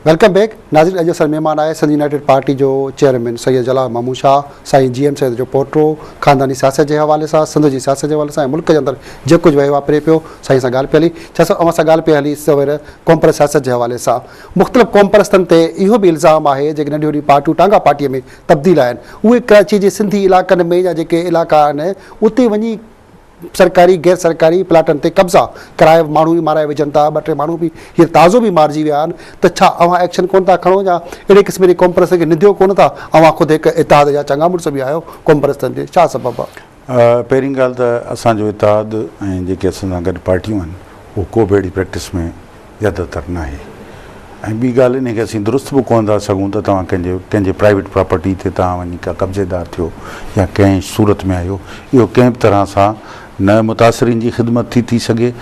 Welcome back ناظرين اڄ اسان مهمان آهي سنڌ يونائيٽيڊ پارٽي جو چيئرمين سيد جلال محمود شاهه سائين جي ايم سيد جو پوٽو خانداني سياست جي حوالي سان سنڌ جي سياست جي حوالي سان ملڪ جي اندر جي ڪجهه وهي واپري پيو سائين سان ڳالهه پي هلي شاهه صاحب اوهان سان ڳالهه پي هلي سوير قومپرست سياست جي حوالي سان مختلف قومپرستن تي اهو به الزام آهي جيڪي ننڍي وڏي پارٽيون ٽانگا پارٽي ۾ تبديل آهن اهي ڪراچي جي سنڌي علائقن ۾ جا جيڪي علائقا آهن اتي وڃي سرڪاري غير سرڪاري پلاٽن تي قبضا ڪرائي ماڻهو به مارائي وجهن ٿا ٻه ٽي ماڻهو به هينئر تازو به مارجي ويا آهن ته ڇا اوهان ايڪشن ڪونه ٿا کڻو يا اهڙي قسم جي قومپرستن کي ننديو ڪونه ٿا اوهان خود هڪ اتحاد جا چڱا مڙس به آهيو قومپرستن جي ڇا سبب پهرين ڳالهه ته اسان جو اتحاد ۽ جيڪي اسان سان گڏ پارٽيون آهن اهو ڪو به اهڙي پريڪٽس ۾ يد تر ناهي ۽ ٻي ڳالهه انهي کي اسين درست به ڪونه ٿا سگهون ته توهان ڪنهن جي ڪنهن جي پرائيويٽ پراپرٽي تي توهان وڃي ڪا قبضيدار ٿيو يا ڪنهن صورت ۾ آهيو اهو ڪنهن به طرح سان نه متاثرين جي خدمت ٿي ٿي سگهي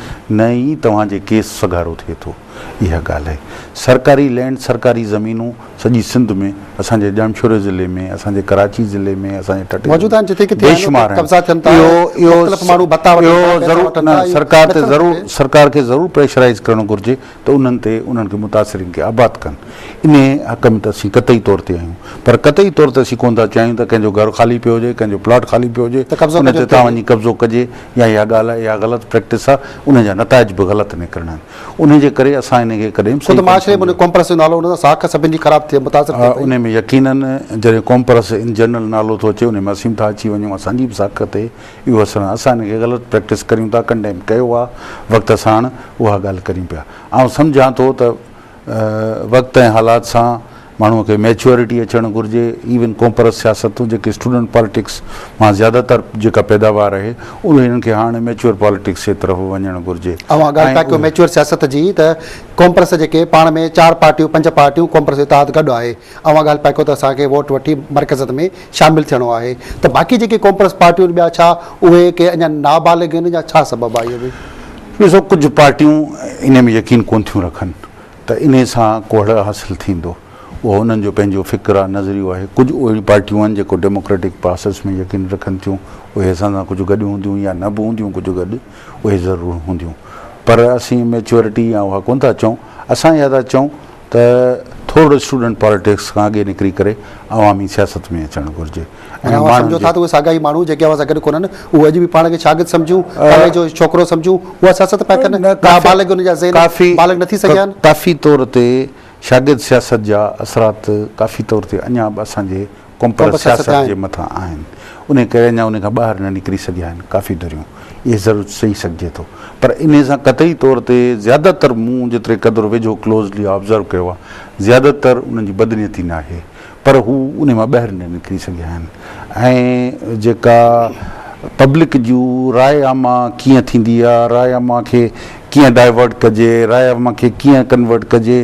نه ئي توهان جي ڪيس سگهارو ٿئي ٿو. اها ڳالهه آهي سرڪاري لينڊ سرڪاري زمينون سڄي سنڌ ۾ اسان جي ڄامشوري ضلعي ۾ اسان جي ڪراچي ضلعي ۾ اسان جي ٺٽي موجود آهن جتي ڪٿي آهن اتي قبضا ٿين ٿا مختلف ماڻهو ڀتا وٺن ٿا اهو ضرور نه سرڪار تي ضرور سرڪار کي ضرور پريشرائيز ڪرڻ گهرجي ته انهن تي انهن کي متاثرين کي آباد ڪن انهي حق ۾ ته اسين قطعي طور تي آهيون پر قطعي طور تي اسين ڪونه ٿا چاهيون ته ڪنهن جو گهر خالي پيو هجي ڪنهن جو پلاٽ خالي پيو هجي ان تي تان وڃي قبضو ڪجي يا اها ڳالهه آهي اها غلط پريڪٽس آهي ان جا نتائج به غلط نڪرڻا آهن انهي جي ڪري اسان ان کي ڪڏهن به صحيح ڪونه سمجهيو. خود معاشري ۾ ڪومپرس جو نالو ان سان ساک سڀن جي خراب ٿئي متاثر ٿئي پئي. انهي ۾ يقيناً جڏهن ڪومپرس ان جنرل نالو ٿو اچي انهي ۾ اسين به ٿا اچي وڃون اسان جي به ساک تي اهو اثر آهي اسان ان کي غلط پريڪٽس ڪريون ٿا ڪنڊيم ڪيو آهي وقت ساڻ اها ڳالهه ڪريون پيا آئون سمجهان ٿو ته وقت ۽ حالات سان ماڻهو کي ميچوئرٽي اچڻ گهرجي ايون ڪومپرس سياستون جيڪي اسٽوڊنٽ پالٽڪس مان زياده تر جيڪا پيداوار اهي انهن کي هاڻ ميچوئر پالٽڪس جي طرف وڃڻ گهرجي اوهان ڳالهه ٿا ڪيو ميچوئر سياست جي ته ڪومپرس جيڪي پاڻ ۾ چار پارٽيون پنج پارٽيون ڪومپرس اتحاد گڏ آهي اوهان ڳالهه پيا ڪيو ته اسان کي ووٽ وٺي مرڪزت ۾ شامل ٿيڻو آهي ته باقي جيڪي ڪومپرس پارٽيون ٻيا ڇا اهي ڪي اڃا نابالغ آهن يا ڇا سبب آهي اهو به. ڏسو ڪجهه پارٽيون انهي ۾ يقين ڪون ٿيون رکن ته انهي سان ڪوهڙ حاصل ٿيندو. اهو انهن جو پنهنجو فڪر آ، نظريو آهي. ڪجهه اهڙيون پارٽيون آهن جيڪو ڊيموڪريٽڪ پراسيس ۾ يقين رکن ٿيون. اهي اسان سان ڪجهه گڏ هونديون يا نه به هونديون ڪجهه گڏ اهي ضرور هونديون. پر اسين ميچوئرٽي يا اها ڪونه ٿا چئون. اسان اها ٿا چئون ته ٿورڙو اسٽوڊنٽ پاليٽڪس کان اڳي نڪري ڪري عوامي سياست ۾ اچڻ گهرجي. ۽ اوهان سمجهو ٿا ته اهي ساڳيا ئي ماڻهو جيڪي اوهان سان گڏ ڪونهن، اهي اڄ به پاڻ کي شاگرد سمجهون، ڪاليج جو ڇوڪرو سمجهون، اها سياست پيا ڪن، نابالغ انهن جا ذهن بالغ نه ٿي سگهيا آهن. ڪافي طور تي شاگرد سياست جا اثرات ڪافي طور تي اڃا به اسان جي ڪومپرس سياست جي مٿان آهن، انهي ڪري اڃا انهي کان ٻاهر نه نڪري سگهيا آهن ڪافي ڌريون، اهي ضرور چئي سگهجي ٿو، پر انهي سان قطعي طور تي زياده تر مون جيتري قدر ويجهو Closely Observe ڪيو آهي، زياده تر انهن جي بدنيتي ناهي. پر هو انهي مان ٻاهر نه نڪري سگهيا آهن ۽ جيڪا پبلڪ جون راء عامه ڪيئن ٿيندي آ راء عامه کي ڪيئن ڊائيورٽ ڪجي راء عامه کي ڪيئن ڪنورٽ ڪجي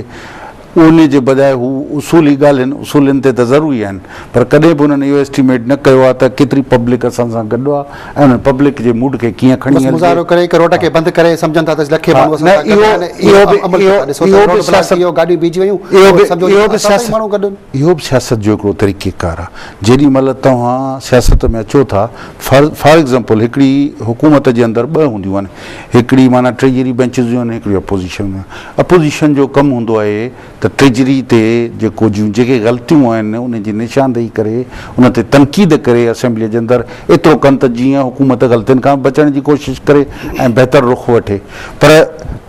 انهي جي بجاء هو اصولي ڳالهين اصولين تي ته ضروري آهن پر ڪڏهن به انهن اهو اسٽيميٽ نه ڪيو آ ته ڪيتري پبلڪ اسان سان گڏ آ انهن پبلڪ جي موڊ کي ڪيئن کڻي هلجي. بس مظاهرو ڪري هڪ روڊ کي بند ڪري سمجهن ٿا ته لکين ماڻهو اسان سان گڏ آهن اهو به عمل ڪيو ٿا ڏسو ته روڊ بلاڪ ٿي ويو گاڏيون بيهجي ويون پوء سمجهو ته اسان سان ئي ماڻهو گڏ آهن. اهو به سياست جو هڪڙو طريقي ڪار آهي جيڏي مهل توهان سياست ۾ اچو ٿا فار ايگزامپل هڪڙي حڪومت جي اندر ٻه هونديون آهن هڪڙي معنيٰ ٽريجري بينچز جون آهن هڪڙيون اپوزيشن جون آهن اپوزيشن جو ڪم هوندو آهي ته ٽريجري تي جيڪو جون جيڪي غلطيون آهن ان جي نشاندهي ڪري ان تي تنقيد ڪري اسيمبليء جي اندر ايترو ڪن ته جيئن حڪومت غلطين کان بچڻ جي ڪوشش ڪري ۽ بهتر رخ وٺي پر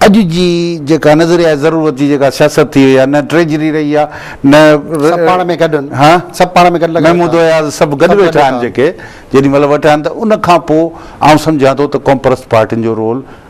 اڄ جي جيڪا نظريات ضرورت جي جيڪا سياست ٿي وئي آهي نه ٽريجري رهي آهي نه سڀ پاڻ ۾ گڏ آهن ها سڀ پاڻ ۾ گڏ لڳا محمود ويٺا اياز سڀ گڏ سڀ گڏ ويٺا آهن ويٺا جيڪي جيڏي مهل ويٺا آهن ته ان کان پوء آئون سمجهان ٿو ته قومپرست پارٽين جو رول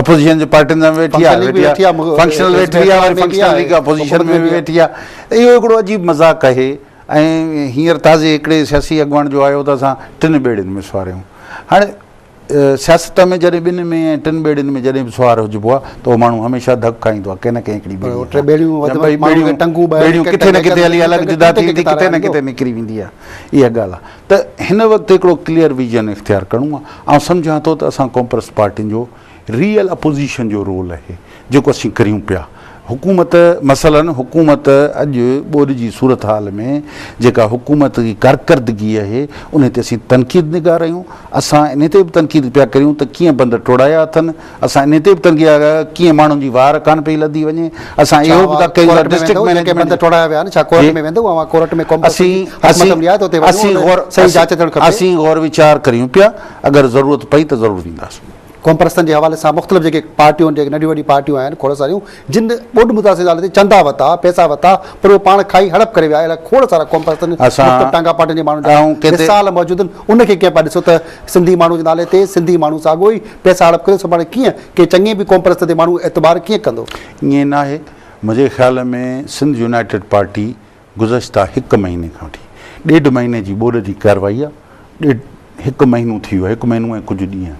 اپوزيشن جي پارٽين سان به ويٺي آهي، ويٺي آهي، فنڪشنل ويٺي آهي، وري فنڪشنل ليگ اپوزيشن ۾ به ويٺي آهي، اهو هڪڙو عجيب مذاق آهي ۽ هينئر تازي هڪڙي سياسي اڳواڻ جو آيو ته اسان ٽن ٻيڙين ۾ سوار آهيون، هاڻي سياست ۾ جڏهن ٻن ۾ ۽ ٽن ٻيڙين ۾ جڏهن به سوار هجبو آهي ته اهو ماڻهو هميشه ڌڪ کائيندو آهي ڪنهن نه ڪنهن هڪڙي ٻيڙي سان، ٻيڙيون ڪٿي نه ڪٿي هلي الڳ جدا ٿي ويندي، ڪٿي نه ڪٿي نڪري ويندي آهي، اها ڳالهه آهي. ته هن وقت هڪڙو ڪليئر ويزن اختيار ڪرڻو آهي، آئون سمجهان ٿو ته اسان ڪومپرس پارٽين جو ريئل اپوزيشن جو رول اهي جيڪو اسين ڪريون پيا، حڪومت مثلا حڪومت اڄ ٻوڏ جي صورتحال ۾ جيڪا حڪومت جي ڪارڪردگي اهي انهي تي اسين تنقيد نگار آهيون، اسان انهي تي به تنقيد پيا ڪريون ته ڪيئن بند ٽوڙايا اٿن اسان انهي تي به تنگي آهي ته ڪيئن ماڻهن جي وار ڪانه پئي لڌي وڃي. اسان اهو به ڪئي ته ڊسٽرڪٽ مئنيجمينٽ اسين غور ويچار ڪريون پيا اگر ضرورت پئي ته ضرور وينداسين. قومپرستن جي حوالي سان مختلف جيڪي پارٽيون جيڪي ننڍيون وڏيون پارٽيون آهن کوڙ ساريون جن ٻوڏ متاثر نالي تي چندا ورتا، پئسا ورتا، پر اهي پاڻ کائي هڙپ ڪري ويا. اهڙا کوڙ سارا قومپرستن، مختلف ٽانگا پارٽين جي ماڻهن جا مثال موجود آهن. ان کي ڪنهن پيا ڏسو ته سنڌي ماڻهوء جي نالي تي سنڌي ماڻهو ساڳيو ئي پئسا هڙپ ڪري سڀاڻي ڪيئن ڪنهن چڱي به قومپرست تي ماڻهو اعتبار ڪيئن ڪندو؟ ائين ناهي. منهنجي خيال ۾ سنڌ يونائيٽيڊ پارٽي گذشته هڪ مهيني کان وٺي ڏيڍ مهيني جي ٻوڏ جي ڪارروائي آهي. ڏيڍ هڪ مهينو ٿي ويو آهي، هڪ مهينو ۽ ڪجهه ڏينهن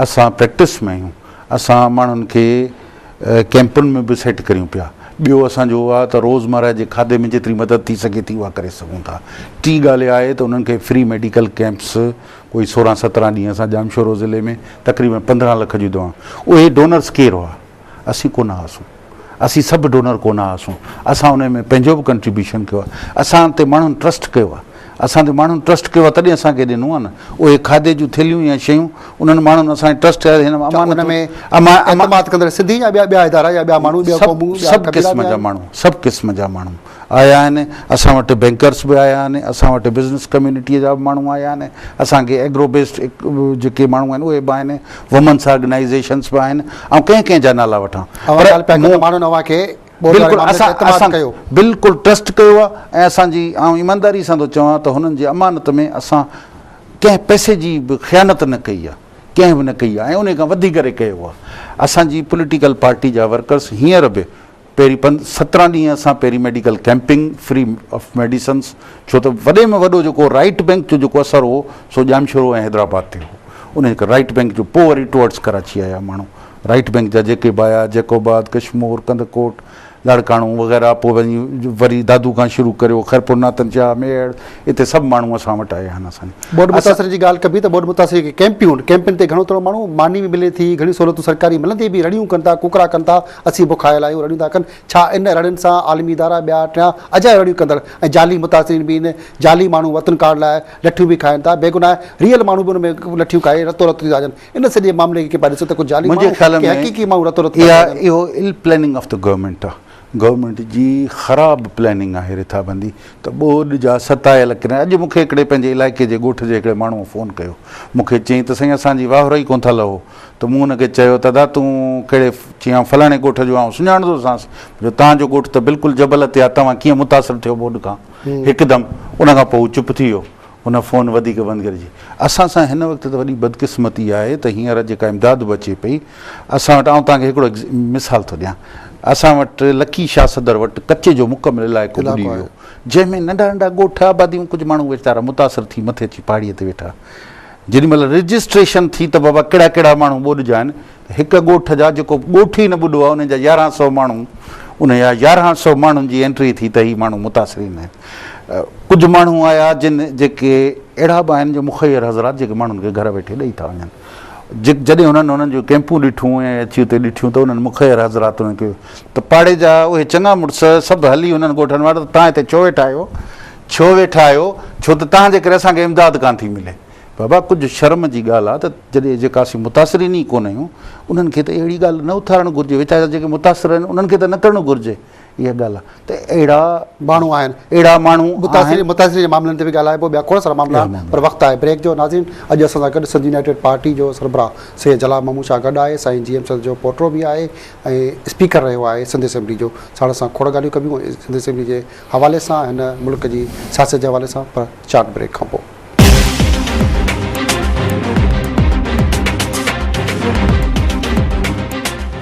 اسان پريڪٽس ۾ آهيون. اسان ماڻهن کي ڪئمپن ۾ به سيٽ ڪريون پيا. ٻيو اسان جو اهو آهي ته روزمره جي کاڌي ۾ جيتري مدد ٿي سگهي ٿي اها ڪري سگهون ٿا. ٽي ڳالهه اها آهي ته انهن کي فري ميڊيڪل ڪئمپس ڪوئي سورهن سترهن ڏينهن اسان ڄامشورو ضلعي ۾ تقريبن پندرهن لک جون دوائون اهي ڊونرز ڪير هئا؟ اسين ڪونه هئاسون. اسين سڀ ڊونر ڪونه هئاسون اسان انهي ۾ پنهنجو به ڪنٽريبيوشن ڪيو آهي اسان تي ماڻهن ٽرسٽ ڪيو آهي اسان تي ماڻهن ٽرسٽ ڪيو آهي تڏهن اسان کي ڏنو آهي نه اهي کاڌي جون ٿيلهيون يا شيون انهن ماڻهن اسان تي ٽرسٽ ڪيو هن امانت ۾ اعتماد ڪندڙ سنڌي يا ٻيا ادارا يا ٻيا ماڻهو ٻيا قومون ٻيا قبيلا سڀ قسم جا ماڻهو سڀ قسم جا ماڻهو آيا آهن، اسان وٽ بئنڪرز به آيا آهن، اسان وٽ بزنس ڪميونٽيء جا به ماڻهو آيا آهن، اسان کي ايگرو بيسڊ جيڪي ماڻهو آهن اهي به آهن، وومنس آرگنائيزيشنز به آهن، آئون ڪنهن ڪنهن جا نالا وٺان؟ اوهان ڳالهه پيا ڪيو ته ماڻهن اوهان کي ٻوڏ واري بلڪل معاملي تي اسان اعتماد اسان ڪيو. بلڪل ٽرسٽ ڪيو آهي ۽ اسان جي آئون ايمانداري سان ٿو چوان ته هنن جي امانت ۾ اسان ڪنهن پئسي جي به خيانت نه ڪئي آهي، ڪنهن به نه ڪئي آهي ۽ انهي کان وڌي ڪري ڪيو آهي. اسان جي پوليٽيڪل پارٽي جا ورڪرز هينئر به پهرين پن سترهن ڏينهن اسان پهرين medical camping free of medicines ڇو ته وڏي ۾ وڏو جيڪو رائيٽ بينڪ جو جيڪو اثر هو سو ڄامشورو ۽ حيدرآباد تي هو ان ڪري رائيٽ بينڪ جو پوء وري ٽوئرڊز ڪراچي آيا ماڻهو رائيٽ بينڪ جا جيڪي به آيا جيڪوباد ڪشمور ڪنڌڪوٽ لاڙڪاڻو وغيره پوء وڃي وري دادو کان شروع ڪريو خيرپور ناتن شاهه ميڙ اتي سڀ ماڻهو اسان وٽ آيا آهن اسان ٻوڏ متاثرن جي ڳالهه ڪبي ته ٻوڏ متاثر جيڪي ڪيمپيون ڪيمپين تي گهڻو تر ماڻهو ماني به ملي ٿي گهڻي سهولتون سرڪاري ملندي به رڙيون ڪن ٿا ڪوڪڙا ڪن ٿا اسين بک آيل آهيون، رڙيون ٿا ڪن، ڇا ان رڙين سان عالمي ادارا، ٻيا ٽيان اجايا رڙيون ڪندڙ ۽ جعلي متاثرين به ايندي، جعلي ماڻهو وطن ڪارڊ لاء لٺيون به کائين ٿا، بيگناهه ريئل ماڻهو به ان ۾ لٺيون کائي رتو رت ٿي ٿا اچن، ان سڄي معاملي کي ڪي پيا ڏسو ته ڪو جعلي ماڻهو ڪي حقيقي ماڻهو رتو رت ٿي ٿا اچن. اها اهو Ill Planning of the Government آهي، گورنمينٽ جي خراب پلاننگ آهي رٿابندي ته ٻوڏ جا ستايل ڪري اڄ مونکي هڪڙي پنهنجي علائقي جي ڳوٺ جي هڪڙي ماڻهوء فون ڪيو مونکي چيائين ته سائين اسان جي واهرو ئي ڪونه ٿا لهو ته مون هن کي چيو ته ادا تون ڪهڙي؟ چيائون آئون فلاڻي ڳوٺ جو آهيان، سڃاڻندو سانس جو تان جو ڳوٺ ته بلڪل جبل تي آهي، توهان ڪيئن متاثر ٿيو ٻوڏ کان؟ هڪدم ان کان پوء هو چپ ٿي ويو، هن فون وڌيڪ بند ڪري چيائين اسان سان هن وقت ته وڏي بدقسمتي آهي ته هينئر جيڪا امداد به اچي پئي اسان وٽ آئون توهان کي هڪڙو مثال ٿو ڏيان اسان وٽ لڪي شاهه صدر وٽ ڪچي جو مڪمل علائقو ٻڏي ويو جنهن ۾ ننڍا ننڍا ڳوٺ آباديون ڪجهه ماڻهو ويچارا متاثر ٿي مٿي اچي پهاڙي تي ويٺا جيڏي مھل رجسٽريشن ٿي ته بابا ڪھڙا ڪھڙا ماڻھو ٻوڏجا آھن ته ھڪ ڳوٺ جا جيڪو ڳوٺ ئي نه ٻڏو آھي انھن جا يارهن سؤ ماڻھو انھن جا يارهن سؤ ماڻھن جي انٽري ٿي ته ھي ماڻھو متاثرين آھن ڪجهه ماڻھو آيا جن جيڪي اھڙا به آھن جو مخير حضرات جيڪي ماڻھن کي گهر ويٺي ڏئي ٿا وڃن جڏھن انھن انھن جون ڪيمپون ڏٺيون ۽ اچي اتي ڏٺيون ته انھن مخير حضرات انھن کي ته پاڙي جا اھي چڱا مڙس سڀ ھلي انھن ڳوٺن وٽ ته تھان ھتي ڇو ويٺا آھيو ڇو ويٺا آهيو؟ ڇو ته توهان جي ڪري اسان کي امداد ڪانه ٿي ملي. بابا ڪجهه شرم جي ڳالهه آهي ته جڏهن جيڪا اسين متاثرين ئي ڪونه آهيون انهن کي ته اهڙي ڳالهه نه اٿارڻ گهرجي ويچارا جا جيڪي متاثر آهن انهن کي ته نه ڪرڻو گهرجي اها ڳالهه آهي ته اهڙا ماڻهو آهن اهڙا ماڻهو آهن. متاثرين جي معاملن تي به ڳالهائبو ٻيا کوڙ سارا معاملا آهن پر وقت آهي بريڪ جو ناظرين اڄ اسان سان گڏ سنڌ يونائيٽيڊ پارٽي جو سربراهه سيد جلال محمود شاهه گڏ آهي سائين جي ايم سنڌ جو پوٽو به آهي ۽ اسپيڪر رهيو آهي سنڌ اسيمبلي جو ساڻس سان کوڙ ڳالهيون ڪبيون سنڌ اسيمبلي جي حوالي سان هن ملڪ جي سياست جي حوالي سان پر چارٽ بريڪ کان پوء.